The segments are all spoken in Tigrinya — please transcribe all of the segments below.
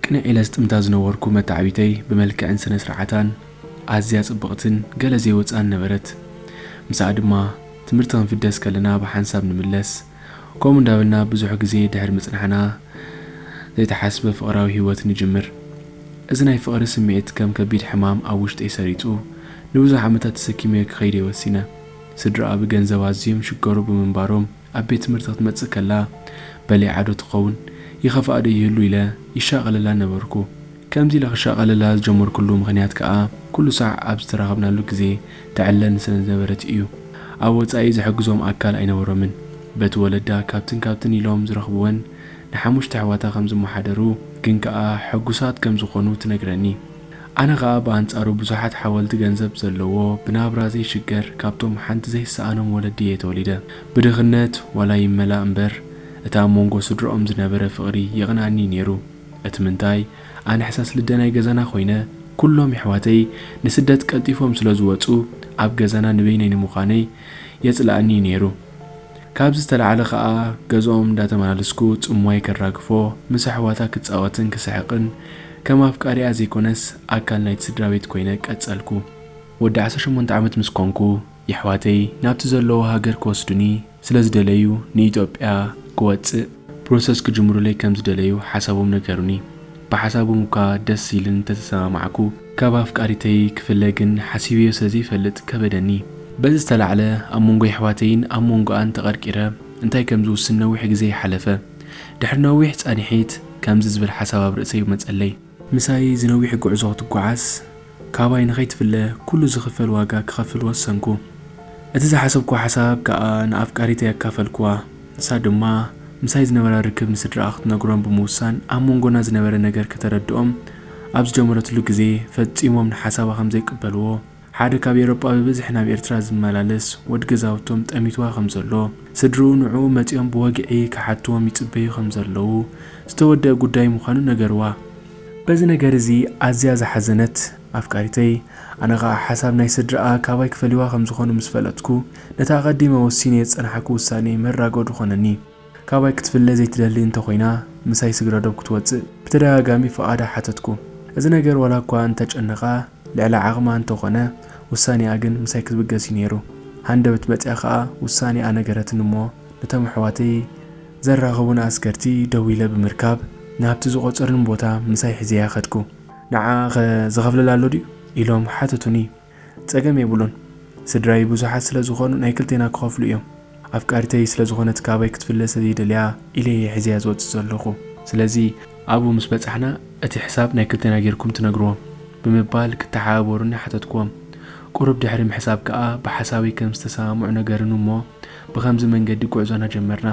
ቅንዕ ኢለ ዝጥምታ ዝነበርኩ መታዕቢተይ ብመልክዕን ስነ ስርዓታን ኣዝያ ጽብቕትን ገለ ዘይወጽኣን ነበረት። ምስኣ ድማ ትምህርቲ ክንፍደስ ከለና ብሓንሳብ ንምለስ። ከምኡ እንዳበልና ብዙሕ ግዜ ድሕሪ ምጽናሕና ዘይተሓስበ ፍቕራዊ ህይወት ንጅምር። እዚ ናይ ፍቕሪ ስምዒት ከም ከቢድ ሕማም ኣብ ውሽጠይ ሰሪጹ ንብዙሕ ዓመታት ተሰኪመዮ ክኸይድ'የ ወሲነ። ስድራኣ ብገንዘብ ኣዝዮም ይሽገሩ ብምንባሮም ኣብ ቤት ትምህርቲ ክትመጽእ ከላ በሊዓ'ዶ ትኸውን? ይኸፍኣ'ዶ ይህሉ ኢለ ይሻቐለላ ነበርኩ። ከምዚ ኢለ ክሻቐለላ ዝጀመርኩሉ ምኽንያት ከኣ ኩሉ ሳዕ ኣብ ዝተራኸብናሉ ግዜ ተዕለን ስለ ዝነበረት ኢዩ። ኣብ ወጻኢ ዝሕግዞም ኣካል ኣይነበሮምን። በቲ ወለዳ ካብትን ካብትን ኢሎም ዝረኽብወን ንሓሙሽተ ኣሕዋታ ከም ዝመሓደሩ ግን ከኣ ሕጉሳት ከም ዝኾኑ ትነግረኒ። ኣነ ከኣ ብኣንጻሩ ብዙሓት ሓወልቲ ገንዘብ ዘለዎ ብናብራ ዘይሽገር ካብቶም ሓንቲ ዘይሰኣኖም ወለዲ ኢየ ተወሊደ። ብድኽነት ዋላ ይመላእ እምበር እቲ ኣብ መንጎ ስድርኦም ዝነበረ ፍቕሪ የቕንኣኒ ኢዩ ነይሩ። እቲ ምንታይ ኣነ ሕሳስ ልደ ናይ ገዛና ኮይነ ኩሎም የሕዋተይ ንስደት ቀልጢፎም ስለ ዝወጹ ኣብ ገዛና ንበይነይ ንምኳነይ የጽልኣኒ እዩ ኔሩ ካብዚ ዝተላዕለ ከኣ ገዝኦም እንዳተመላለስኩ ጽምዋይ ከራግፎ ምስ ኣሕዋታ ክጻወትን ክስሕቅን ከም ኣፍቃሪኣ ዘይኮነስ ኣካል ናይቲ ስድራቤት ኮይነ ቀጸልኩ ወዲ ዓሰርተ ሸሞንተ ዓመት ምስ ኮንኩ የሕዋተይ ናብቲ ዘለዎ ሃገር ክወስዱኒ ስለ ዝደለዩ ንኢትዮጵያ ክወጽእ ፕሮሰስ ክጅምሩለይ ከም ዝደለዩ ሓሳቦም ነገሩኒ ብሓሳቦም እኳ ደስ ኢልኒ ተተሰማማዕኩ ካብ ኣፍቃሪተይ ክፍለ ግን ሓሲበዮ ስለ ዘይፈልጥ ከበደኒ። በዚ ዝተላዕለ ኣብ መንጎ የሕዋተይን ኣብ መንጎኣን ተቐርቂረ እንታይ ከም ዝውስን ነዊሕ ግዜ ሓለፈ ድሕሪ ነዊሕ ጻኒሒት ከምዚ ዝብል ሓሳብ ኣብ ርእሰይ መጸለይ። ምሳይ ዝነዊሕ ጉዕዞ ክትጓዓዝ ካባይ ንኸይትፍለ ኩሉ ዝኽፈል ዋጋ ክኸፍል ወሰንኩ። እቲ ዝሓሰብኩዎ ሓሳብ ከኣ ንኣፍቃሪተይ ኣካፈልኩዋ። ንሳ ድማ ምሳይ ዝነበራ ርክብ ንስድራኣ ክትነግሮም ብምውሳን ኣብ መንጎና ዝነበረ ነገር ከተረድኦም ኣብ ዝጀመረትሉ ግዜ ፈጺሞም ንሓሳባ ከምዘይቅበልዎ፣ ሓደ ካብ ኤሮጳ ብብዝሒ ናብ ኤርትራ ዝመላለስ ወድ ገዛውቶም ጠሚትዋ ከም ዘሎ ስድርኡ ንዕኡ መጺኦም ብወግዒ ክሓትዎም ይጽበዩ ከም ዘለዉ ዝተወደኣ ጉዳይ ምዃኑ ነገርዋ። በዚ ነገር እዚ ኣዝያ ዝሓዘነት ኣፍቃሪተይ ኣነ ከኣ ሓሳብ ናይ ስድርኣ ካባይ ክፈልይዋ ከም ዝኾኑ ምስ ፈለጥኩ ነቲ ኣቐዲመ ወሲነዮ ዝጸናሕኩ ውሳኔ መራጎዲ ኮነኒ። ካባይ ክትፍለ ዘይትደሊ እንተ ኮይና ምሳይ ስግረዶብ ክትወጽእ ብተደጋጋሚ ፍቓዳ ሓተትኩ። እዚ ነገር ዋላ እኳ እንተ ጨነቓ፣ ልዕሊ ዓቕማ እንተ ኾነ ውሳኔኣ ግን ምሳይ ክትብገስ እዩ ነይሩ። ሃንደበት መጺኣ ከኣ ውሳኔኣ ነገረትኒ እሞ ነቶም ኣሕዋተይ ዘራኽቡኒ ኣስገርቲ ደዊለ ብምርካብ ናብቲ ዝቖጸሩኒ ቦታ ምሳይ ሒዘያ ከድኩ። ንዓኣ'ኸ ዝኸፍለላ ኣሎ ድዩ? ኢሎም ሓተቱኒ። ጸገም የብሉን። ስድራይ ብዙሓት ስለ ዝኾኑ ናይ ክልቴና ክኸፍሉ እዮም። ኣፍቃሪተይ ስለ ዝኾነት ካባይ ክትፍለ ስለ ዘይደልያ ኢለ እየ ሒዘያ ዝወጽእ ዘለኹ። ስለዚ ኣብኡ ምስ በጻሕና እቲ ሕሳብ ናይ ክልቴና ጌርኩም ትነግርዎም። ብምባል ክተሓባበሩኒ ሓተትክዎም። ቁሩብ ድሕሪ ምሕሳብ ከኣ ብሓሳበይ ከም ዝተሰማምዑ ነገርኒ እሞ ብኸምዚ መንገዲ ጉዕዞና ጀመርና።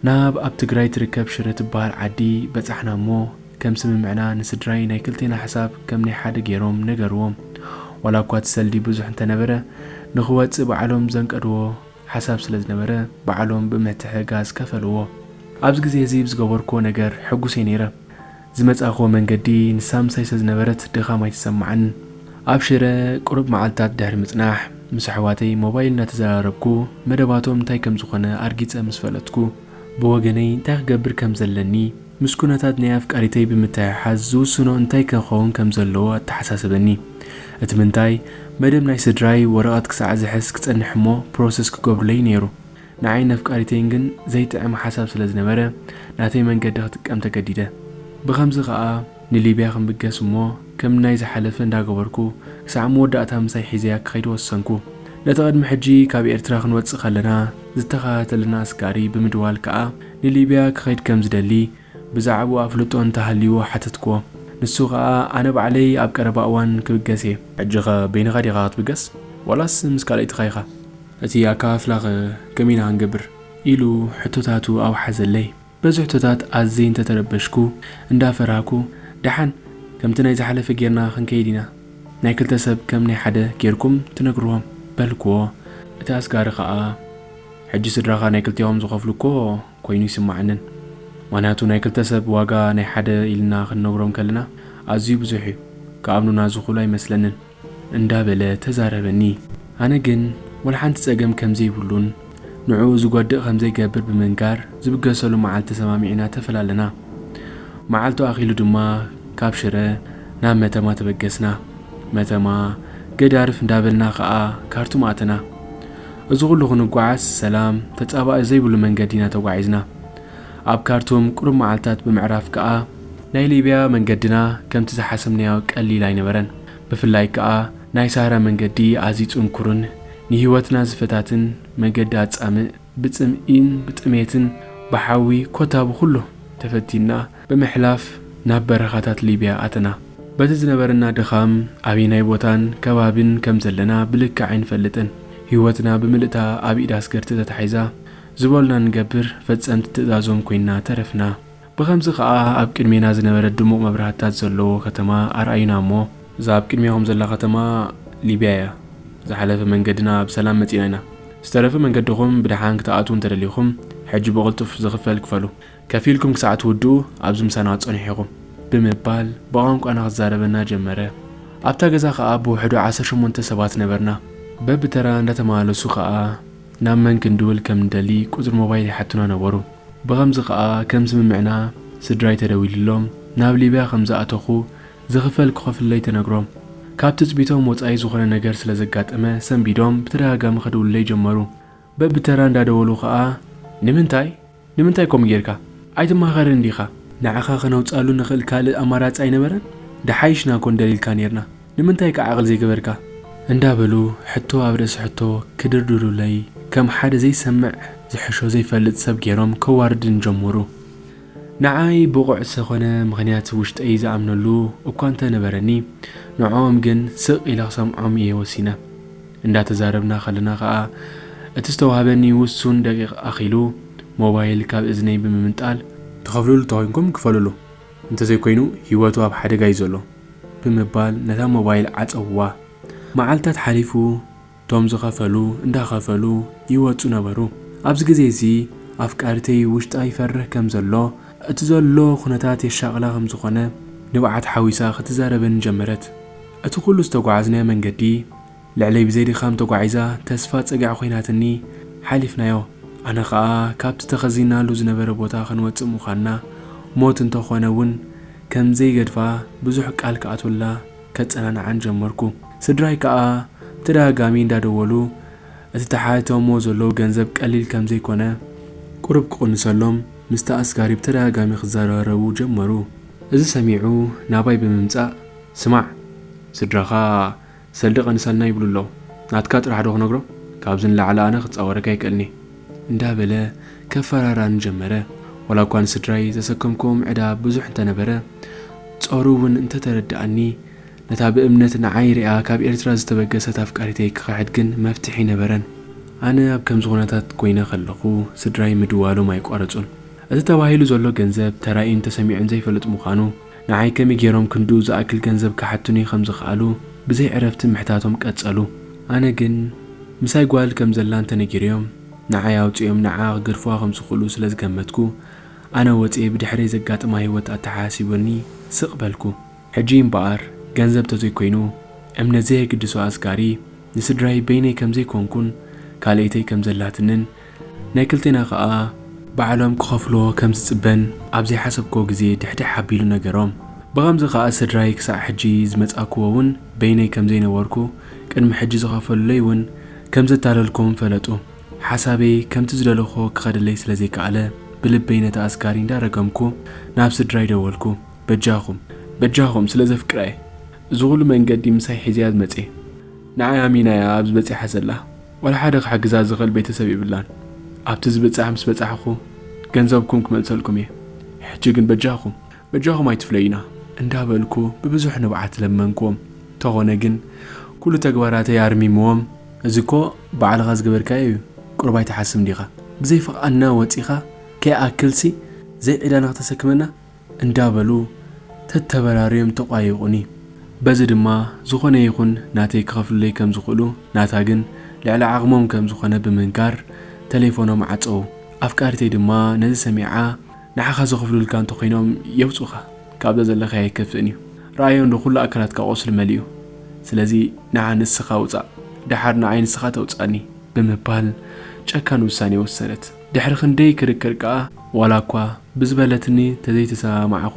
ናብ ኣብ ትግራይ ትርከብ ሽረ ትበሃል ዓዲ በጻሕና እሞ ከም ስምምዕና ንስድራይ ናይ ክልቴና ሕሳብ ከም ናይ ሓደ ጌሮም ነገርዎም። ዋላ እኳ እቲ ሰልዲ ብዙሕ እንተነበረ ንኽወጽእ ባዕሎም ዘንቀድዎ ሓሳብ ስለ ዝነበረ ባዕሎም ብምትሕግጋዝ ከፈልዎ። ኣብዚ ግዜ እዚ ብዝገበርክዎ ነገር ሕጉስ እየ ነይረ። ዝመጻእክዎ መንገዲ ንሳ ምሳይ ስለ ዝነበረት ድኻም ኣይተሰማዓንን። ኣብ ሽረ ቅሩብ መዓልትታት ድሕሪ ምጽናሕ፣ ምስ ኣሕዋተይ ሞባይል እናተዘራረብኩ መደባቶም እንታይ ከም ዝኾነ ኣርጊጸ ምስ ፈለጥኩ፣ ብወገነይ እንታይ ክገብር ከም ዘለኒ ምስ ኩነታት ናይ ኣፍቃሪተይ ብምትሕሓዝ ዝውስኖ እንታይ ከኸውን ከም ዘለዎ ኣተሓሳሰበኒ። እቲ ምንታይ፣ መደብ ናይ ስድራይ ወረቐት ክሳዕ ዝሕዝ ክጸንሕ እሞ ፕሮሰስ ክገብሩለይ'ዩ ነይሩ። ንዓይን ነፍቃሪተይን ግን ዘይጥዕም ሓሳብ ስለ ዝነበረ፣ ናተይ መንገዲ ክጥቀም ተገዲደ። ብኸምዚ ከኣ። ንሊብያ ክምገስ እሞ ከም ናይ ዝሓለፈ እንዳገበርኩ ክሳዕ መወዳእታ ምሳይ ሒዘያ ክኸይድ ወሰንኩ። ነቲ ቅድሚ ሕጂ ካብ ኤርትራ ክንወጽእ ከለና ዝተኸታተለና ኣስጋሪ ብምድዋል ከኣ ንሊብያ ክኸይድ ከም ዝደሊ ብዛዕብኡ ኣፍልጦ እንተ ሃልይዎ ሓተትክዎ። ንሱ ከኣ ኣነ ባዕለይ ኣብ ቀረባ እዋን ክብገስ እየ። ሕጂኸ በይንኻ ዲኻ ክትብገስ ዋላስ ምስ ካልኣይትኻ ኢኻ? እቲ ኣከፋፍላኸ ከመይ ኢና ክንገብር? ኢሉ ሕቶታቱ ኣውሓዘለይ። በዚ ሕቶታት ኣዝይ እንተተረበሽኩ እንዳ ፈራህኩ ደሓን ከምቲ ናይ ዝሓለፈ ጌርና ክንከይድ ኢና ናይ ክልተ ሰብ ከም ናይ ሓደ ጌርኩም ትነግርዎም በልክዎ። እቲ ኣስጋሪ ከኣ ሕጂ ስድራኻ ናይ ክልቴኦም ዝኸፍሉ እኮ ኮይኑ ኣይስመዓንን ምኽንያቱ ናይ ክልተ ሰብ ዋጋ ናይ ሓደ ኢልና ክንነግሮም ከለና ኣዝዩ ብዙሕ እዩ ክኣምኑና ዝኽእሉ ኣይመስለንን። እንዳበለ ተዛረበኒ። ኣነ ግን ወላሓንቲ ጸገም ከምዘይብሉን ንዕኡ ዝጎድእ ከምዘይገብር ብምንጋር ዝብገሰሉ መዓልቲ ተሰማሚዕና ተፈላለና። መዓልቱ ኣኺሉ ድማ ካብ ሽረ ናብ መተማ ተበገስና። መተማ ገዳርፍ እንዳበልና ከኣ ካርቱም ኣተና። እዚ ኩሉ ክንጓዓዝ ሰላም ተጻባኢ ዘይብሉ መንገዲ ኢና ተጓዒዝና። ኣብ ካርቱም ቁሩብ መዓልታት ብምዕራፍ ከኣ፣ ናይ ሊብያ መንገድና ከምቲ ዝሓሰብናዮ ቀሊል ኣይነበረን። ብፍላይ ከኣ ናይ ሳህራ መንገዲ ኣዝዩ ጽንኩርን ንህይወትና ዝፈታትን መገዲ ኣጻምእ፣ ብጽምኢን ብጥሜትን ብሓዊ ኮታ ብኹሉ ተፈቲንና ብምሕላፍ ናብ በረኻታት ሊብያ ኣተና። በቲ ዝነበረና ድኻም ኣበየናይ ቦታን ከባቢን ከም ዘለና ብልክዕ ኣይንፈልጥን። ህይወትና ብምልእታ ኣብ ኢድ ኣስገርቲ ተታሒዛ፣ ዝበሉና ንገብር፣ ፈጸምቲ ትእዛዞም ኮይንና ተረፍና። ብኸምዚ ከኣ ኣብ ቅድሜና ዝነበረት ድሙቕ መብራህትታት ዘለዎ ከተማ ኣርኣዩና እሞ። እዛ ኣብ ቅድሜኹም ዘላ ከተማ ሊብያ እያ። ዝሓለፈ መንገድና ብሰላም መጺእና ኢና። ዝተረፈ መንገድኹም ብደሓን ክትኣትዉ እንተ ደሊኹም፣ ሕጂ ብቕልጡፍ ዝኽፈል ክፈሉ። ከፊልኩም ክሳዕ ትውድኡ ኣብዚ ምሳና ክትጸንሑ ኢኹም። ብምባል ብቛንቋና ክዛረበና ጀመረ። ኣብታ ገዛ ከኣ ብውሕዱ ዓሰርተ ሸሞንተ ሰባት ነበርና። በብተራ እንዳተመላለሱ ከኣ ናብ መን ክንድውል ከም እንደሊ ቁጽሪ ሞባይል ይሓቱና ነበሩ። ብኸምዚ ከኣ ከም ስምምዕና ስድራይ ተደዊልሎም ናብ ሊብያ ከም ዝኣተኹ ዝኽፈል ክኸፍሉለይ ተነግሮም። ካብ ትጽቢቶም ወጻኢ ዝኾነ ነገር ስለ ዘጋጠመ ሰንቢዶም ብተደጋጋሚ ከድውሉለይ ጀመሩ። በብተራ እንዳደወሉ ከኣ ንምንታይ? ንምንታይ ከምኡ ጌርካ? ኣይትማኸርን ዲኻ? ንዓኻ ከነውጽኣሉ ንኽእል ካልእ ኣማራጺ ኣይነበረን? ደሓይሽና ኮን ደሊልካ ኔርና። ንምንታይ ከ ዓቕሊ ዘይገበርካ? እንዳበሉ ሕቶ ኣብ ርእሲ ሕቶ ክድርድሩለይ፣ ከም ሓደ ዘይሰምዕ ዝሕሾ ዘይፈልጥ ሰብ ጌሮም ከዋርድኒ ጀመሩ። ንዓይ ብቑዕ ዝሰኮነ ምኽንያት ውሽጠይ ዝኣምነሉ እኳ እንተ ነበረኒ፣ ንዕኦም ግን ስቕ ኢለ ክሰምዖም እየ ወሲነ። እንዳተዛረብና ከለና ከኣ እቲ ዝተዋህበኒ ውሱን ደቂቕ ኣኺሉ ሞባይል ካብ እዝነይ ብምምንጣል። ትኸፍልሉ ተኾይንኩም ክፈልሉ እንተዘይኮይኑ ሂወቱ ኣብ ሓደጋ እዩ ዘሎ ብምባል ነታ ሞባይል ዓጸውዋ። መዓልታት ሓሊፉ እቶም ዝኸፈሉ እንዳኸፈሉ ይወጹ ነበሩ። ኣብዚ ግዜ እዚ ኣፍቃሪተይ ውሽጣ ይፈርህ ከም ዘሎ እቲ ዘሎ ኩነታት የሻቕላ ከም ዝኾነ ንብዓት ሓዊሳ ክትዛረበኒ ጀመረት። እቲ ኩሉ ዝተጓዓዝናዮ መንገዲ። ልዕለይ ብዘይ ድኻም ተጓዒዛ ተስፋ ጸግዒ ኮይናትኒ ሓሊፍናዮ። ኣነ ከኣ ካብቲ ተኸዚንናሉ ዝነበረ ቦታ ክንወጽእ ምዃንና ሞት እንተ ኾነ ውን ከም ዘይገድፋ ብዙሕ ቃል ክኣትወላ ከጸናንዓን ጀመርኩ። ስድራይ ከኣ ብተደጋጋሚ እንዳ ደወሉ እቲ ተሓቲቶሞ ዘለዉ ገንዘብ ቀሊል ከም ዘይኮነ ቁሩብ ክቕንሰሎም ምስቲ ኣስጋሪ ብተደጋጋሚ ክዘራረቡ ጀመሩ። እዚ ሰሚዑ ናባይ ብምምጻእ ስማዕ ስድራኻ ሰልደቀ ንሰናይ ይብሉ ኣለዉ ናትካ ጥራሕ ዶ ክነግሮ ካብዚ ንላዕሊ ኣነ ክጻወረካ ኣይክእልንየ። እንዳ በለ ከፈራራኒ ጀመረ ዋላ እኳ ንስድራይ ዘሰከምክዎም ዕዳ ብዙሕ እንተ ነበረ ጾሩ ውን እንተ ተረደኣኒ ነታ ብእምነት ንዓይ ሪኣ ካብ ኤርትራ ዝተበገሰት ኣፍቃሪተይ ክኽሕድ ግን መፍትሒ ኣይነበረን። ኣነ ኣብ ከምዚ ኩነታት ኮይነ ከለኹ ስድራይ ምድዋሎም ኣይቋረጹን። እቲ ተባሂሉ ዘሎ ገንዘብ ተራእዩን ተሰሚዑን ዘይፈልጥ ምዃኑ፣ ንዓይ ከመይ ገይሮም ክንድኡ ዝኣክል ገንዘብ ክሓቱኒ ከም ዝኸኣሉ ብዘይ ዕረፍቲ ምሕታቶም ቀጸሉ። ኣነ ግን ምሳይ ጓል ከም ዘላ እንተ ነጊረዮም ንዓይ ኣውጺኦም ንዓኣ ክገድፉዋ ከም ዝኽእሉ ስለ ዝገመትኩ ኣነ ወጺኤ ብድሕረይ ዘጋጥማ ህይወት ኣተሓሳሲቡኒ ስቕ በልኩ። ሕጂ እምበኣር ገንዘብ እንተ ዘይኮይኑ እምነት ዘየግድሶ ኣስጋሪ ንስድራይ በይነይ ከም ዘይኮንኩን ካልኤተይ ከም ዘላትንን ናይ ክልቴና ከኣ ባዕሎም ክኸፍልዎ ከም ዝጽበን ኣብ ዘይሓሰብክዎ ግዜ ድሕድሕ ኣቢሉ ነገሮም። ብኸምዚ ከኣ ስድራይ ክሳዕ ሕጂ ዝመጻእክዎ ውን በይነይ ከም ዘይነበርኩ ቅድሚ ሕጂ ዝኸፈሉለይ ውን ከም ዘታለልክዎም ፈለጡ። ሓሳበይ ከምቲ ዝደለኽዎ ክኸደለይ ስለ ዘይከኣለ ብልበይ ነቲ ኣስጋሪ እንዳ ረገምኩ ናብ ስድራይ ደወልኩ በጃኹም በጃኹም ስለ ዘፍቅራ'የ እዚ ኹሉ መንገዲ ምሳይ ሒዘያ ዝመጽኤ ንዓይ ኣሚና'ያ ኣብዚ በጺሓ ዘላ። ዋላ ሓደ ክሕግዛ ዝኽእል ቤተሰብ የብላን ኣብቲ ዝብጻሕ ምስ በጻሕኹ ገንዘብኩም ክመልሰልኩም እየ ሕጂ ግን በጃኹም በጃኹም ኣይትፍለዩና እንዳበልኩ ብብዙሕ ንብዓት ለመንክዎም ተኾነ ግን ኩሉ ተግባራተይ ኣርሚምዎም እዚ እኮ ባዕልኻ ዝገበርካዮ እዩ ቁሩብ ኣይትሓስብን ዲኻ ብዘይ ፍቓድና ወጺኻ ከይኣክልሲ ዘይ ዒላና ክተሰክመና እንዳበሉ ተተበራርዮም ተቋየቁኒ በዚ ድማ ዝኾነ ይኹን ናተይ ክኸፍሉለይ ከም ዝኽእሉ ናታ ግን ልዕሊ ዓቕሞም ከም ዝኾነ ብምንካር ተሌፎኖም ዓጸዉ ኣፍቃሪተይ ድማ ነዚ ሰሚዓ ንዓኻ ዝኽፍሉልካ እንተኾይኖም የውጹኻ ካብዛ ዘለኻዮ ኣይከፍእን እዩ ረኣዮ እንዶ ኩሉ ኣካላትካ ቁስሊ መሊኡ ስለዚ ንዓ ንስኻ ውጻእ ደሓር ንዓይ ንስኻ ተውጽኣኒ ብምባል ጨካን ውሳኔ ወሰነት። ድሕሪ ክንደይ ክርክር ከኣ፣ ዋላ እኳ ብዝበለትኒ ተዘይተሰማማዕኩ፣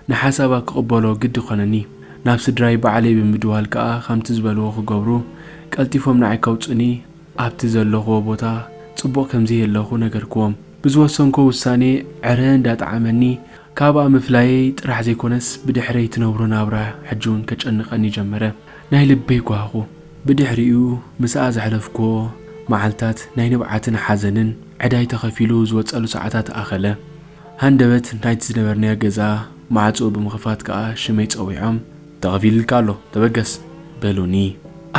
ንሓሳባ ክቕበሎ ግዲ ኮነኒ። ናብ ስድራይ ባዕለይ ብምድዋል ከኣ ከምቲ ዝበልዎ ክገብሩ፣ ቀልጢፎም ንዓይ ከውጹኒ ኣብቲ ዘለኹዎ ቦታ ጽቡቕ ከምዘይየለኹ ነገርኩዎም። ብዝወሰንኩዎ ውሳኔ ዕረ እንዳጠዓመኒ ካብኣ ምፍላየይ ጥራሕ ዘይኮነስ ብድሕረይ ትነብሮ ናብራ ሕጂ ውን ከጨንቐኒ ጀመረ። ናይ ልበይ ጓሃኹ። ብድሕሪኡ ምስኣ ዘሕለፍኩዎ መዓልታት ናይ ንብዓትን ሓዘንን ዕዳይ ተኸፊሉ ዝወጸሉ ሰዓታት ኣኸለ። ሃንደበት ናይቲ ዝነበርናዮ ገዛ ማዕጽኡ ብምኽፋት ከኣ ሽመይ ጸዊዖም። ተኸፊልልካ ኣሎ ተበገስ! በሉኒ።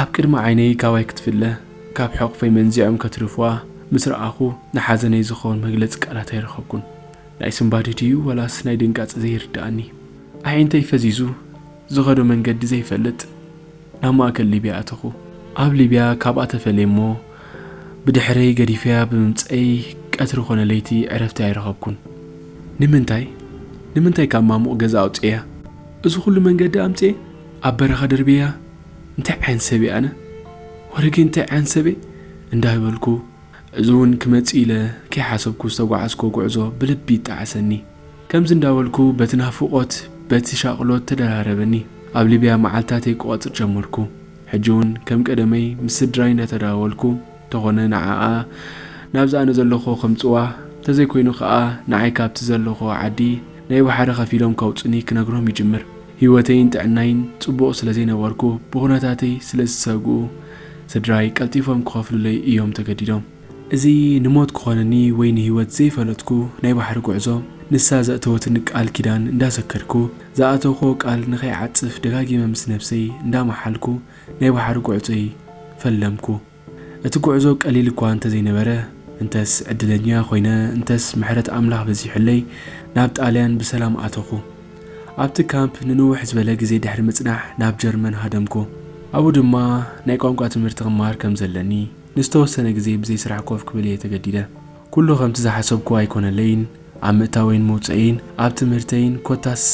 ኣብ ቅድሚ ዓይነይ ካባይ ክትፍለ ካብ ሕቑፈይ መንዚዖም ከትርፍዋ ምስ ረኣኹ ንሓዘነይ ዝኸውን መግለጺ ቃላት ኣይረኸብኩን። ናይ ስንባደ ድዩ ወላስ ናይ ድንጋጽ ዘይርድኣኒ ኣዒንተይ ፈዚዙ ዝኸዶ መንገዲ ዘይፈልጥ ናብ ማእከል ሊብያ ኣተኹ። ኣብ ሊብያ ካብኣ ተፈልየ እሞ ብድሕረይ ገዲፈያ ብምምጸይ ቀትሪ ኮነ ለይቲ ዕረፍቲ ኣይረኸብኩን። ንምንታይ ንምንታይ ካብ ማሙቕ ገዛ ኣውጺኤያ እዚ ኩሉ መንገዲ ኣምጺኤ ኣብ በረኻ ደርብየያ እንታይ ዓይነት ሰብ እየ ኣነ ወረ ግን እንታይ ዓይነት ሰብ እየ እንዳበልኩ እዚ እውን ክመጽእ ኢለ ከይሓሰብኩ ዝተጓዓዝክዎ ጉዕዞ ብልቢ ይጣዓሰኒ። ከምዚ እንዳበልኩ በቲ ናፍቖት በቲ ሻቕሎት ተደራረበኒ። ኣብ ሊብያ መዓልታተይ ክቖጽር ጀመርኩ። ሕጂ እውን ከም ቀደመይ ምስ ስድራይ እንዳተዳዋወልኩ እንተኾነ ንዓኣ ናብዚ ኣነ ዘለኽዎ ከምጽዋ እንተዘይኮይኑ ክኣ ንዓይ ካብቲ ዘለኽዎ ዓዲ ናይ ባሕሪ ከፊሎም ከውጹኒ ክነግሮም ይጅምር። ህይወተይን ጥዕናይን ጽቡቕ ስለ ዘይነበርኩ ብኹነታተይ ስለ ዝሰግኡ ስድራይ ቀልጢፎም ክኸፍሉለይ እዮም ተገዲዶም። እዚ ንሞት ክኾነኒ ወይ ንህይወት ዘይፈለጥኩ ናይ ባሕሪ ጉዕዞ ንሳ ዘእተወትኒ ቃል ኪዳን እንዳሰከድኩ ዝኣተውክዎ ቃል ንኸይዓጽፍ ደጋጊመ ምስ ነብሰይ እንዳመሓልኩ ናይ ባሕሪ ጉዕጾይ ፈለምኩ። እቲ ጉዕዞ ቀሊል እኳ እንተዘይነበረ፣ እንተስ ዕድለኛ ኮይነ፣ እንተስ ምሕረት ኣምላኽ በዚሑለይ፣ ናብ ጣልያን ብሰላም ኣተኹ። ኣብቲ ካምፕ ንንውሕ ዝበለ ግዜ ድሕሪ ምጽናሕ ናብ ጀርመን ሃደምኩ። ኣብኡ ድማ ናይ ቋንቋ ትምህርቲ ክመሃር ከም ዘለኒ፣ ንዝተወሰነ ግዜ ብዘይ ስራሕ ኮፍ ክብል እየ ተገዲደ። ኩሉ ከምቲ ዝሓሰብኩዎ ኣይኮነለይን፣ ኣብ ምእታወይን ምውጸኤይን፣ ኣብ ትምህርተይን፣ ኮታስ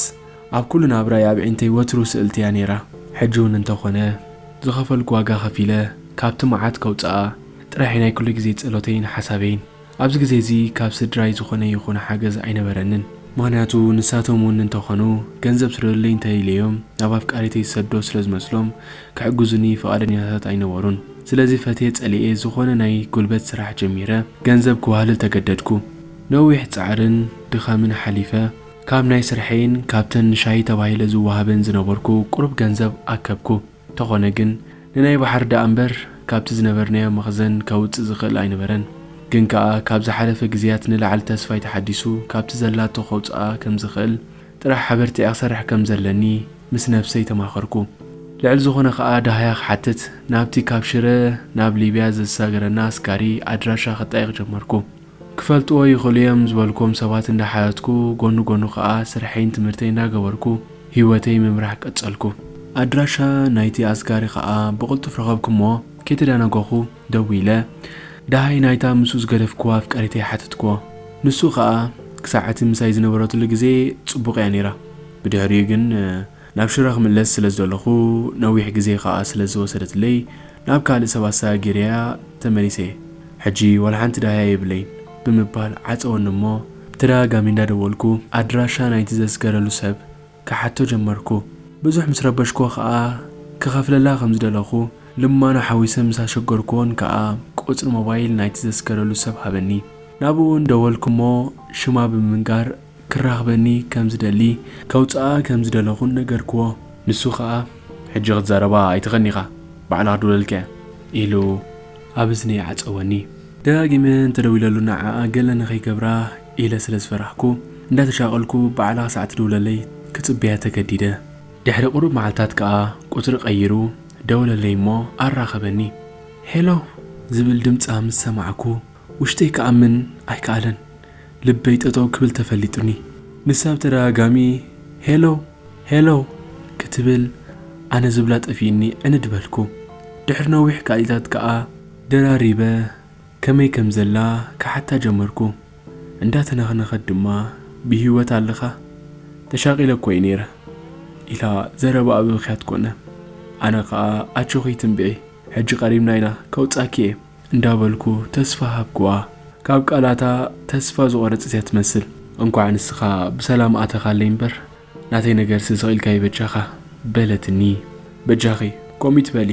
ኣብ ኩሉ ናብራይ ኣብ ዒንተይ ወትሩ ስእልቲ እያ ነይራ ሕጂ ውን እንተ ኮነ ዝኸፈልኩ ዋጋ ከፊለ ካብቲ መዓት ከውጽኣ ጥራሕ ኢዩ ናይ ኩሉ ግዜ ጸሎተይን ሓሳበይን ኣብዚ ግዜ እዚ ካብ ስድራይ ዝኾነ ይኹን ሓገዝ ኣይነበረንን ምኽንያቱ ንሳቶም ውን እንተ ኮኑ ገንዘብ ስደዱለይ እንተ ኢለዮም ናብ ኣፍቃሪተይ ዝሰዶ ስለ ዝመስሎም ክሕግዙኒ ፍቓደኛታት ኣይነበሩን ስለዚ ፈትየ ጸሊኤ ዝኾነ ናይ ጉልበት ስራሕ ጀሚረ ገንዘብ ክዋህልል ተገደድኩ ነዊሕ ጻዕርን ድኻምን ሓሊፈ ካብ ናይ ስርሐይን ካብተን ንሻሂ ተባሂለ ዝወሃበን ዝነበርኩ ቁሩብ ገንዘብ ኣከብኩ። ተኾነ ግን ንናይ ባሕሪ ደኣ እምበር ካብቲ ዝነበርናዮ መኽዘን ከውጽእ ዝኽእል ኣይነበረን። ግን ከኣ ካብ ዝሓለፈ ግዝያት ንላዕሊ ተስፋይ ተሓዲሱ ካብቲ ዘላቶ ከውጽኣ ከም ዝኽእል ጥራሕ ሓበርቲኣ ክሰርሕ ከም ዘለኒ ምስ ነብሰይ ተማኸርኩ። ልዕሊ ዝኾነ ከኣ ደሃያ ክሓትት ናብቲ ካብ ሽረ ናብ ሊብያ ዘዝሳገረና ኣስጋሪ ኣድራሻ ክጠይቕ ጀመርኩ። ክፈልጥዎ ይኽእሉ እዮም ዝበልክዎም ሰባት እንዳሓተትኩ ጎኑ ጎኑ ከኣ ስርሐይን ትምህርተይ እንዳገበርኩ ሂወተይ ምምራሕ ቀጸልኩ። ኣድራሻ ናይቲ ኣስጋሪ ከኣ ብቕልጡፍ ረኸብኩ'ሞ ከይተዳናጎኹ ደዊለ ደሃይ ናይታ ምስኡ ዝገደፍክዋ ኣፍቃሪተይ ሓተትክዎ። ንሱ ከኣ ክሳዕ እቲ ምሳይ ዝነበረትሉ ግዜ ጽቡቕ እያ ነይራ ብድሕሪኡ ግን ናብ ሽረ ክምለስ ስለ ዝደለኹ፣ ነዊሕ ግዜ ከኣ ስለ ዝወሰደትለይ፣ ናብ ካልእ ሰብ ኣሰጋጊረያ ተመሊሰ። ሕጂ ዋላ ሓንቲ ዳህያ የብለይን። ብምባል ዓጸወኒ እሞ፣ ብተደጋጋሚ እንዳደወልኩ ኣድራሻ ናይቲ ዘስገረሉ ሰብ ክሓቶ ጀመርኩ። ብዙሕ ምስ ረበሽኩዎ ከኣ፣ ክኸፍለላ ከም ዝደለኹ ልማኖ ሓዊሰ ምስ ኣሸገርኩዎን ከኣ፣ ቁጽሪ ሞባይል ናይቲ ዘስገረሉ ሰብ ሃበኒ። ናብኡ እውን ደወልኩ እሞ፣ ሽማ ብምንጋር፣ ክራኽበኒ ከም ዝደሊ ከውጽኣ ከም ዝደለኹን ነገርክዎ። ንሱ ከኣ ሕጂ ክትዛረባ ኣይትኽእልኒ ኢኻ ባዕልኻ ድውለልካያ ኢሉ ኣብ እዝነይ ዓጸወኒ። ደጋጊመ እንተደዊለሉ ንዓኣ ገለ ንኸይገብራ ኢለ ስለ ዝፈራሕኩ እንዳተሻቐልኩ ባዕላ ክሳዕ ትድውለለይ ክጽበያ ተገዲደ። ድሕሪ ቁሩብ መዓልታት ከኣ ቁጽሪ ቀይሩ ደወለለይ እሞ ኣራኸበኒ። ሄሎ ዝብል ድምጻ ምስ ሰማዕኩ። ውሽጠይ ክኣምን ኣይከኣለን ልበይ ጠጠው ክብል ተፈሊጡኒ ንሳ ብተደጋጋሚ ሄሎ ሄሎ ክትብል ኣነ ዝብላ ጠፊኡኒ ዕንድ በልኩ ድሕሪ ነዊሕ ቃሊታት ከኣ ደራሪበ ከመይ ከም ዘላ ክሓታ ጀመርኩ እንዳተነኽነኸት ድማ ብሂወት ኣለኻ ተሻቂለ እኮ እየ ነይረ ኢላ ዘረባኣ ብምኽያት ኮነ ኣነ ከኣ ኣጆኺ ትንብዒ ሕጂ ቀሪብና ኢና ከውጻኪ እየ እንዳበልኩ ተስፋ ሃብኩዋ ካብ ቃላታ ተስፋ ዝቆረጸት እያ ትመስል እንኳዕ ንስኻ ብሰላም ኣተኻለይ እምበር ናተይ ነገርሲ ስቂልካዩ በጃኻ በለትኒ በጃኺ ኮሚት በሊ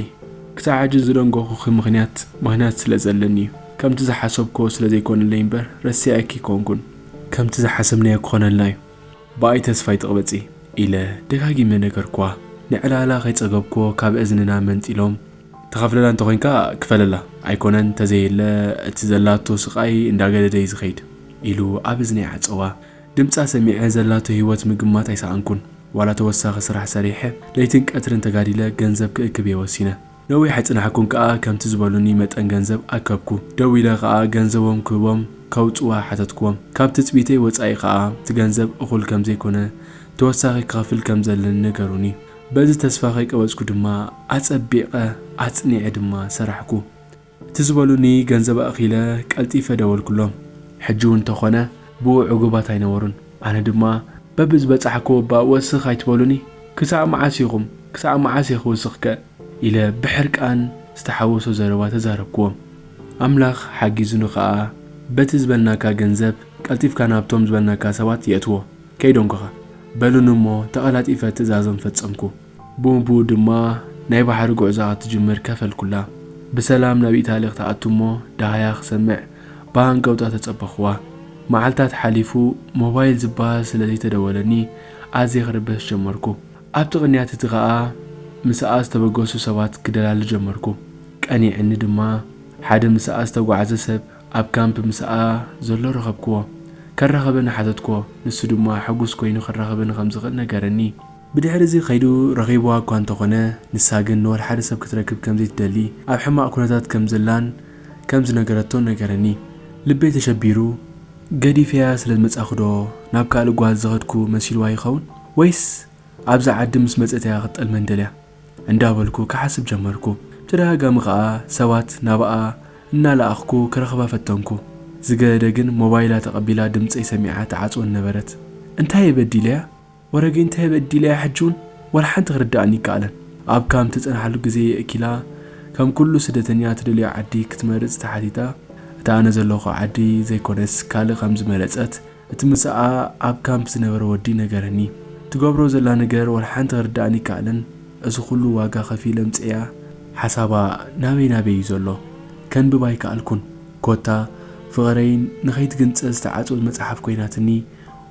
ክሳብ ሕጂ ዝደንጎኹኺ ምኽንያት ምኽንያት ስለ ዘለኒ እዩ ከምቲ ዝሓሰብኩዎ ስለ ዘይኮነለይ እምበር ረሲዐኪ ኣይኮንኩን ከምቲ ዝሓሰብናዮ ክኾነልና እዩ ብኣይ ተስፋ ኣይትቅበጺ ኢለ ደጋጊመ ነገርኩዋ ንዕላላ ከይጸገብኩዎ ካብ እዝንና መንጢሎም ትኸፍለላ እንተኾይንካ ክፈለላ ኣይኮነን ተዘየለ እቲ ዘላቶ ስቃይ እንዳገደደ እዩ ዝኸይድ ኢሉ ኣብ እዝነይ ዓጸዋ ድምጻ ሰሚዐ ዘላቶ ሂወት ምግማት ኣይሰኣንኩን ዋላ ተወሳኺ ስራሕ ሰሪሐ ለይትን ቀትርን ተጋዲለ ገንዘብ ክእክብ እየ ወሲነ ነዊሕ ኣይጽናሕኩን ከኣ ከምቲ ዝበሉኒ መጠን ገንዘብ ኣከብኩ ደዊለ ከኣ ገንዘቦም ክህቦም ከውጽዋ ሓተትክዎም ካብ ትጽቢተይ ወጻኢ ከኣ እቲ ገንዘብ እኹል ከምዘይኮነ ተወሳኺ ክኸፍል ከምዘለኒ ነገሩኒ በዚ ተስፋ ከይቀበጽኩ ድማ ኣጸቢቐ ኣጽኒዐ ድማ ሰራሕኩ። እቲ ዝበሉኒ ገንዘብ ኣእኪለ ቀልጢፈ ደወልኩሎም። ሕጂ'ውን እንተኾነ ብኡ ዕጉባት ኣይነበሩን። ኣነ ድማ በብዝበጻሕክዎ እባ ወስኽ ኣይትበሉኒ? ክሳዕ መዓስ ኢኹም? ክሳዕ መዓስ'የ ክውስኽከ? ኢለ ብሕርቃን ዝተሓወሶ ዘረባ ተዛረብክዎም። ኣምላኽ ሓጊዙኒ ከኣ በቲ ዝበልናካ ገንዘብ ቀልጢፍካ ናብቶም ዝበልናካ ሰባት የእትዎ። ከይደንጎኻ በሉኒ እሞ ተቐላጢፈ ትእዛዞም ፈጸምኩ። ብኡንብኡ ድማ ናይ ባሕሪ ጉዕዞኣ ክትጅምር ከፈልኩላ። ብሰላም ናብ ኢታሊ ክትኣቱ እሞ ደሃያ ክሰምዕ ብሃንቀውታ ተጸበኹዋ። መዓልታት ሓሊፉ ሞባይል ዝበሃል ስለ ዘይተደወለኒ ኣዝየ ክርበሽ ጀመርኩ። ኣብቲ ቅንያት እቲ ከኣ ምስኣ ዝተበገሱ ሰባት ክደላሊ ጀመርኩ። ቀኒዕኒ ድማ ሓደ ምስኣ ዝተጓዕዘ ሰብ ኣብ ካምፕ ምስኣ ዘሎ ረኸብክዎ። ከራኽበኒ ሓተትክዎ፣ ንሱ ድማ ሕጉስ ኰይኑ ክራኽበኒ ከም ዝኽእል ነገረኒ። ብድሕርዚ ከይዱ ረኺብዋ እኳ እንተ ዀነ፣ ንሳ ግን ንወልሓደ ሰብ ክትረክብ ከም ዘይትደሊ፣ ኣብ ሕማቕ ኵነታት ከም ዘላን ከም ዝነገረቶን ነገረኒ። ልበይ ተሸቢሩ፣ ገዲፈያ ስለ ዝመጻእኩዶ ናብ ካልእ ጓል ዝኸድኩ መሲልዋ ይኸውን? ወይስ ኣብዛ ዓዲ ምስ መጸት እያ ክትጠልመኒ ደልያ? እንዳበልኩ ክሓስብ ጀመርኩ። ብተደጋጋሚ ከኣ ሰባት ናብኣ እናለኣኽኩ ክረኽባ ፈተንኩ። ዝገደደ ግን ሞባይላ ተቐቢላ ድምጸይ ሰሚዓ ትዓጽወኒ ነበረት። እንታይ'የ በዲለያ? ወረገይ እንታይ'የ በዲለያ ሕጂ'ውን ዋላ ሓንቲ ክርድኣኒ ኣይከኣለን። ኣብ ካምፕ ትጸንሓሉ ግዜ የእኪላ ከም ኩሉ ስደተኛ ትደልዮ ዓዲ ክትመርጽ ተሓቲታ እታ ኣነ ዘለኹ ዓዲ ዘይኮነስ ካልእ ከም ዝመረጸት እቲ ምሳኣ ኣብ ካምፕ ዝነበረ ወዲ ነገረኒ። ትገብሮ ዘላ ነገር ዋላ ሓንቲ ክርድኣኒ ኣይከኣለን፣ እዚ ኩሉ ዋጋ ከፊለ ኣምጺኤያ። ሓሳባ ናበይ ናበይ እዩ ዘሎ ከንብብ ኣይከኣልኩን፣ ኮታ ፍቕረይ ንኸይትግንጸል ዝተዓጽወት መጽሓፍ ኮይናትኒ፣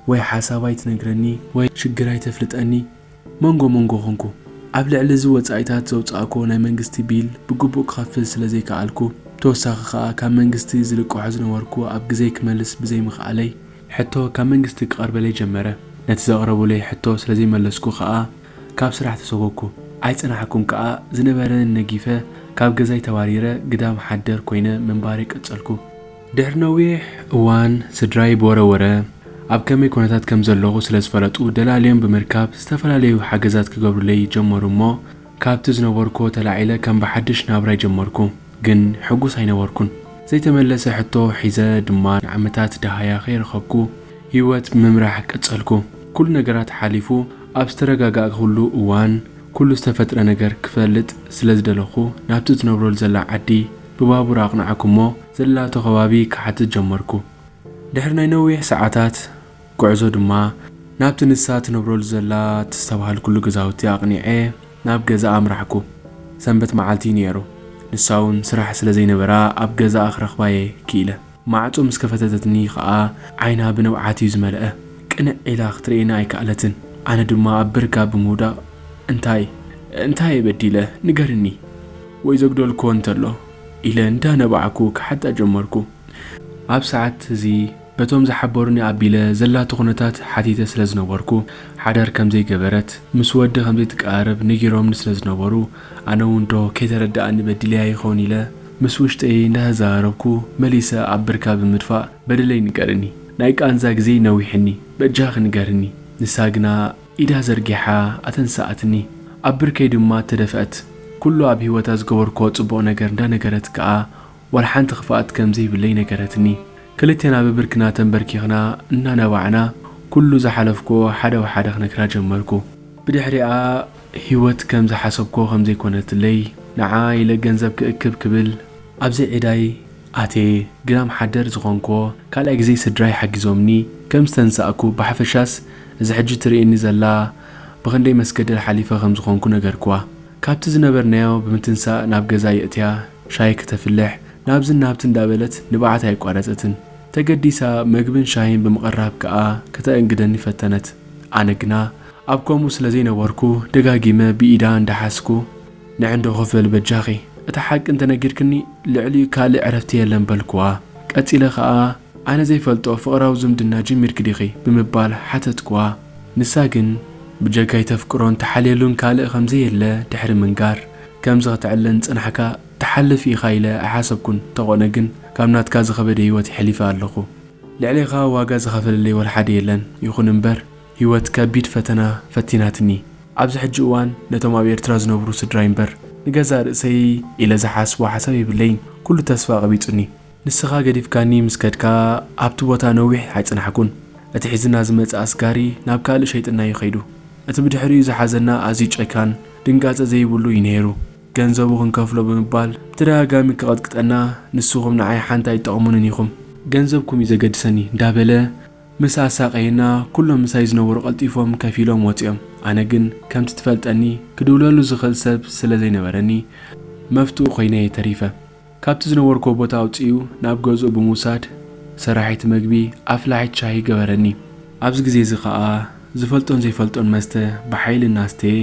ወይ ሓሳባ ኣይትነግረኒ፣ ወይ ሽግራ ኣይተፍልጠኒ፣ መንጎ መንጎ ኾንኩ። ኣብ ልዕሊ እዚ ወጻኢታት ዘውጻእክዎ ናይ መንግስቲ ቢል ብግቡእ ክኸፍል ስለ ዘይከኣልኩ፣ ብተወሳኺ ከኣ ካብ መንግስቲ ዝልቅሖ ዝነበርኩ ኣብ ግዘይ ክመልስ ብዘይምኽኣለይ፣ ሕቶ ካብ መንግስቲ ክቐርበለይ ጀመረ። ነቲ ዘቕረቡለይ ሕቶ ስለ ዘይመለስኩ ከኣ ካብ ስራሕ ተሰጎግኩ። ኣይጸናሕኩን ከኣ ዝነበረኒ ነጊፈ ካብ ገዛይ ተባሪረ ግዳም ሓደር ኮይነ ምንባረይ ቀጸልኩ። ድሕሪ ነዊሕ እዋን ስድራይ ብወረ ወረ ኣብ ከመይ ኩነታት ከም ዘለኹ ስለ ዝፈለጡ ደላልዮም ብምርካብ ዝተፈላለዩ ሓገዛት ክገብሩለይ ጀመሩ እሞ ካብቲ ዝነበርኩዎ ተላዒለ ከም ብሓድሽ ናብራይ ጀመርኩ ግን ሕጉስ ኣይነበርኩን ዘይተመለሰ ሕቶ ሒዘ ድማ ንዓመታት ደሃያ ከይረኸብኩ ሂወት ምምራሕ ቀጸልኩ ኩሉ ነገራት ሓሊፉ ኣብ ዝተረጋጋእኩሉ እዋን ኩሉ ዝተፈጥረ ነገር ክፈልጥ ስለ ዝደለኹ ናብቲ ትነብረሉ ዘላ ዓዲ ብባቡር ኣቕናዕኩ እሞ ዘላቶ ከባቢ ክሓትት ጀመርኩ። ድሕሪ ናይ ነዊሕ ሰዓታት ጉዕዞ ድማ ናብቲ ንሳ ትነብረሉ ዘላ እተስተብሃልኩሉ ገዛውቲ ኣቕኒዐ ናብ ገዛኣ ኣምራሕኩ። ሰንበት መዓልቲ ኢዩ ነይሩ፣ ንሳ'ውን ስራሕ ስለ ዘይነበራ ኣብ ገዛኣ ክረኽባ'የ ክኢለ። ማዕጾ ምስ ከፈተተትኒ ከኣ ዓይና ብንብዓት ኢዩ ዝመልኣ። ቅንዕ ኢላ ክትርእየኒ ኣይከኣለትን፣ ኣነ ድማ ኣብ ብርካ ብምውዳቕ እንታይ? እንታይ'የ በዲለ? ንገርኒ! ወይ ዘጉደልኩዎ እንተሎ? ኢለ እንዳነባዕኩ ክሓታ ጀመርኩ። ኣብ ሰዓት እዚ በቶም ዝሓበሩኒ ኣቢለ ዘላቶ ኩነታት ሓቲተ ስለ ዝነበርኩ ሓዳር ከም ዘይገበረት ምስ ወዲ ከም ዘይትቀራረብ ነጊሮምኒ ስለ ዝነበሩ ኣነ ውን ዶ ከይተረደኣኒ በዲለያ ይኸውን ኢለ ምስ ውሽጠይ እንዳተዘራረብኩ መሊሰ ኣብ ብርካ ብምድፋእ በደለይ ንገርኒ ናይ ቃንዛ ግዜይ ነዊሕኒ በጃኺ ንገርኒ ንሳ ግና ኢዳ ዘርጊሓ ኣተንሰኣትኒ። ኣብ ብርከይ ድማ ተደፍኣት። ኩሉ ኣብ ህይወታ ዝገበርኩዎ ጽቡቕ ነገር እንዳነገረት ከኣ ዋላ ሓንቲ ክፍኣት ከም ዘይብለይ ነገረትኒ። ክልቴና ብብርክና ተንበርኪኽና እናነባዕና ኩሉ ዝሓለፍኩዎ ሓደ ብሓደ ክነግራ ጀመርኩ። ብድሕሪኣ ህይወት ከም ዝሓሰብኩዎ ከም ዘይኮነትለይ፣ ንዓ ኢለ ገንዘብ ክእክብ ክብል፣ ኣብዚ ዒዳይ ኣትየ ግዳም ሓደር ዝኾንክዎ ካልኣይ ግዜ ስድራይ ሓጊዞምኒ ከም ዝተንሳእኩ ብሓፈሻስ እዛ ሕጂ ትርእየኒ ዘላ ብኽንደይ መስገደል ሓሊፈ ከም ዝኾንኩ ነገርክዋ። ካብቲ ዝነበርናዮ ብምትንሳእ ናብ ገዛ የእትያ ሻሂ ክተፍልሕ ናብዝን ናብትን እንዳበለት ንብዓት ኣየቋረጸትን። ተገዲሳ መግብን ሻሂን ብምቕራብ ክኣ ከተእንግደኒ ፈተነት። ኣነ ግና ኣብ ከምኡ ስለ ዘይነበርኩ ደጋጊመ ብኢዳ እንዳሓዝኩ ንዕንዶ ክፍል በጃኺ እታ ሓቂ እንተነጊርክኒ ልዕሊኡ ካልእ ዕረፍቲ የለን በልኩዋ። ቀጺለ ከኣ ኣነ ዘይፈልጦ ፍቕራዊ ዝምድና ጀሚርኪ ዲኺ? ብምባል ሓተትኩዋ። ንሳ ግን ብጀካይ ተፍቅሮን ትሓልየሉን ካልእ ከም ዘየለ ድሕሪ ምንጋር፣ ከምዚ ከተዕልል እንጸናሕካ ትሓልፍ ኢኻ ኢለ ኣይሓሰብኩን፣ እንተኾነ ግን ካብ ናትካ ዝኸበደ ህይወት የሕሊፈ ኣለኹ። ልዕሌኻ ዋጋ ዝኸፈለለይ ወልሓደ የለን፣ ይኹን እምበር ህይወት ከቢድ ፈተና ፈቲናትኒ። ኣብዚ ሕጂ እዋን ነቶም ኣብ ኤርትራ ዝነብሩ ስድራይ እምበር ንገዛእ ርእሰይ ኢለ ዝሓስቦ ሓሳብ የብለይን። ኩሉ ተስፋ ቀቢጹኒ። ንስኻ ገዲፍካኒ ምስ ከድካ ኣብቲ ቦታ ነዊሕ ኣይጸናሕኩን። እቲ ሒዝና ዝመጸ ኣስጋሪ ናብ ካልእ ሸይጥናዮ ከይዱ። እቲ ብድሕሪኡ ዝሓዘና ኣዝዩ ጨካን፣ ድንጋጸ ዘይብሉ እዩ ነይሩ። ገንዘቡ ክንከፍሎ ብምባል ብተደጋጋሚ ክቐጥቅጠና ንስኹም ንዓይ ሓንቲ ኣይትጠቕሙንን ኢኹም። ገንዘብኩም እዩ ዘገድሰኒ እንዳበለ ምስ ኣሳቐየና ኩሎም ምሳይ ዝነበሩ ቀልጢፎም ከፍ ኢሎም ወጺኦም። ኣነ ግን ከምቲ ትፈልጠኒ ክድውለሉ ዝኽእል ሰብ ስለ ዘይነበረኒ መፍትኡ ኮይነ'የ ተሪፈ። ካብቲ ዝነበርኩዎ ቦታ ኣውጺኡ ናብ ገዝኡ ብምውሳድ ሰራሒት መግቢ ኣፍላሒት ሻሂ ገበረኒ። ኣብዚ ግዜ'ዚ ከኣ ዝፈልጦን ዘይፈልጦን መስተ ብሓይሊ እናስተየ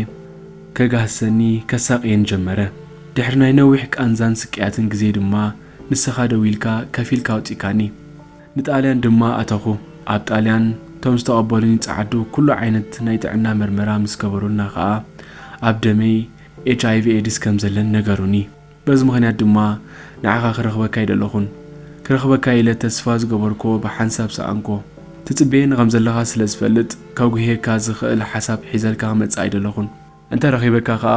ከጋህሰኒ ከሳቕየኒ ጀመረ። ድሕሪ ናይ ነዊሕ ቃንዛን ስቅያትን ግዜ ድማ ንሰኻ ደው ኢልካ ከፊልካ ኣውጺእካኒ። ንጣልያን ድማ ኣተኹ። ኣብ ጣልያን እቶም ዝተቐበሉኒ ጸዓዱ ኩሉ ዓይነት ናይ ጥዕና መርመራ ምስ ገበሩልና ከኣ ኣብ ደመይ ኤች ኣይቪ ኤድስ ከም ዘለን ነገሩኒ። በዚ ምኽንያት ድማ ንዓኻ ክረኽበካ ኣይደለኹን። ክረኽበካ ኢለ ተስፋ ዝገበርኩዎ ብሓንሳብ ሰኣንኩዎ። ትጽበየኒ ከም ዘለኻ ስለ ዝፈልጥ ከጉህየካ ዝኽእል ሓሳብ ሒዘልካ ክመጽእ ኣይደለኹን። እንተ ረኺበካ ከኣ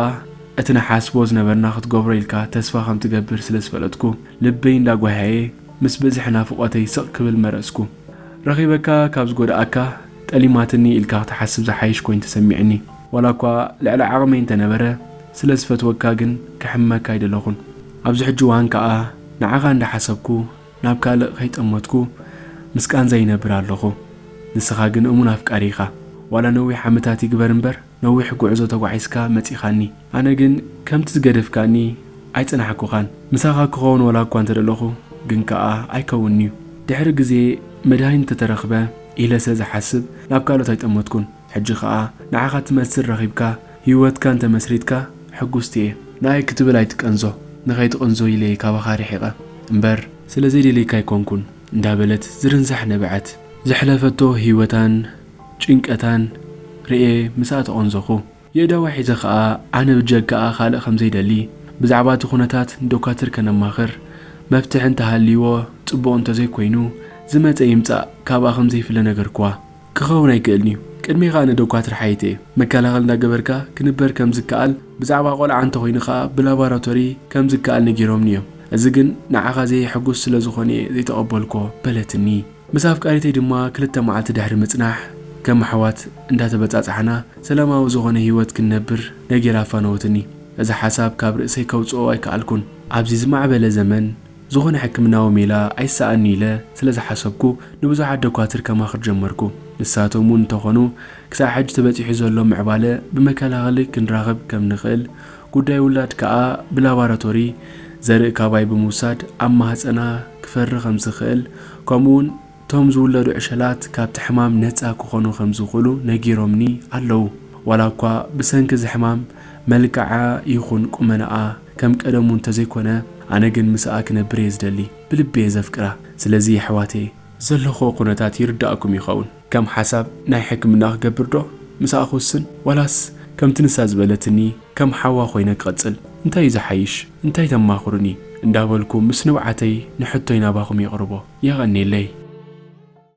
እቲ ንሓስቦ ዝነበርና ክትገብሮ ኢልካ ተስፋ ከም ትገብር ስለ ዝፈለጥኩ ልበይ እንዳ ጓህያየ ምስ ብዝሒ ናፍቖተይ ስቕ ክብል መረጽኩ። ረኺበካ ካብ ዝጎድኣካ ጠሊማትኒ ኢልካ ክትሓስብ ዝሓይሽ ኮይኑ ተሰሚዕኒ። ዋላ እኳ ልዕሊ ዓቕመይ እንተ ነበረ ስለ ዝፈትወካ ግን ክሕመካ ኣይደለኹን። ኣብዚ ሕጂ እዋን ከኣ ንዓኻ እንዳ ሓሰብኩ ናብ ካልእ ከይጠመትኩ ምስ ቃንዛ ይነብር ኣለኹ። ንስኻ ግን እሙን ኣፍቃሪ ኢኻ። ዋላ ነዊሕ ዓመታት ይግበር እምበር ነዊሕ ጉዕዞ ተጓዒዝካ መጺኻኒ ኣነ ግን ከምቲ ዝገደፍካኒ ኣይጸናሕኩኻን ምሳኻ ክኸውን ወላ እኳ እንተደለኹ ግን ከኣ ኣይከውንን'ዩ ድሕሪ ግዜ መድሃኒት እንተተረኽበ ኢለ ስለ ዝሓስብ ናብ ካልኦት ኣይጠመትኩን ሕጂ ከኣ ንዓኻ ትመስል ረኺብካ ሂወትካ እንተመስሪትካ ሕጉስቲ'የ ንኣይ ክትብል ኣይትቀንዞ ንኸይትቕንዞ ኢለ'የ ካባኻ ርሒቐ እምበር ስለ ዘይደልየካ ኣይኮንኩን እንዳበለት ዝርንሳሕ ነበዐት ዘሕለፈቶ ሂወታን ጭንቀታን ርእየ ምስ ኣተቖንዘኹ። የእዳወይ ሒዘ ከኣ ኣነ ብጀጋኣ ካልእ ከም ዘይደሊ ብዛዕባ እቲ ኩነታት ንዶካትር ከነማኽር መፍትሒ እንተ ሃልይዎ ጽቡቕ እንተ ዘይኮይኑ ዝመጸ ይምጻእ ካብኣ ከም ዘይፍለ ነገርክዋ። ክኸውን ኣይክእልን'ዩ ቅድሜኻ ኣነ ዶካትር ሓይቲ'የ መከላኸል እንዳ ገበርካ ክንበር ከም ዝከኣል ብዛዕባ ቆልዓ እንተ ኮይኑ ከኣ ብላባራቶሪ ከም ዝከኣል ነጊሮምኒ እዮም እዚ ግን ንዓኻ ዘየሕጉስ ስለ ዝኾነ'የ ዘይተቐበልኩዎ በለትኒ። ምስ ኣፍቃሪተይ ድማ ክልተ መዓልቲ ድሕሪ ምጽናሕ ከም ኣሕዋት እንዳተበጻጻሕና ሰላማዊ ዝኾነ ሂወት ክንነብር ነጊራ ኣፋነወትኒ። እዚ ሓሳብ ካብ ርእሰይ ከውጽኦ ኣይከኣልኩን። ኣብዚ ዝማዕበለ ዘመን ዝኾነ ሕክምናዊ ሜላ ኣይሰኣን'ዩ ኢለ ስለ ዝሓሰብኩ ንብዙሓት ደኳትር ከማኽር ጀመርኩ። ንሳቶም እውን እንተኾኑ ክሳዕ ሕጂ ተበጺሑ ዘሎ ምዕባለ ብመከላኸሊ ክንራኽብ ከም ንኽእል ጉዳይ ውላድ ከኣ ብላባራቶሪ ዘርኢ ካባይ ብምውሳድ ኣብ ማህጸና ክፈሪ ከምዝኽእል ከምኡውን እቶም ዝውለዱ ዕሸላት ካብቲ ሕማም ነጻ ክኾኑ ከምዝኽእሉ ነጊሮምኒ ኣለዉ። ዋላ እኳ ብሰንኪ እዚ ሕማም መልክዓ ይኹን ቁመናኣ ከም ቀደሙ እንተዘይኮነ ኣነ ግን ምሳኣ ክነብር እየ ዝደሊ ብልቢ እየ ዘፍቅራ ስለዚ የሕዋተየ ዘለኹዎ ኩነታት ይርዳእኩም ይኸውን። ከም ሓሳብ ናይ ሕክምና ክገብር ዶ ምሳኣ ክውስን ዋላስ ከምቲ ንሳ ዝበለትኒ ከም ሓዋ ኮይነ ክቅጽል እንታይ እዩ ዝሓይሽ እንታይ ተማኽሩኒ እንዳበልኩ ምስ ንብዓተይ ንሕቶይ ናባኹም የቅርቦ የቀኔለይ።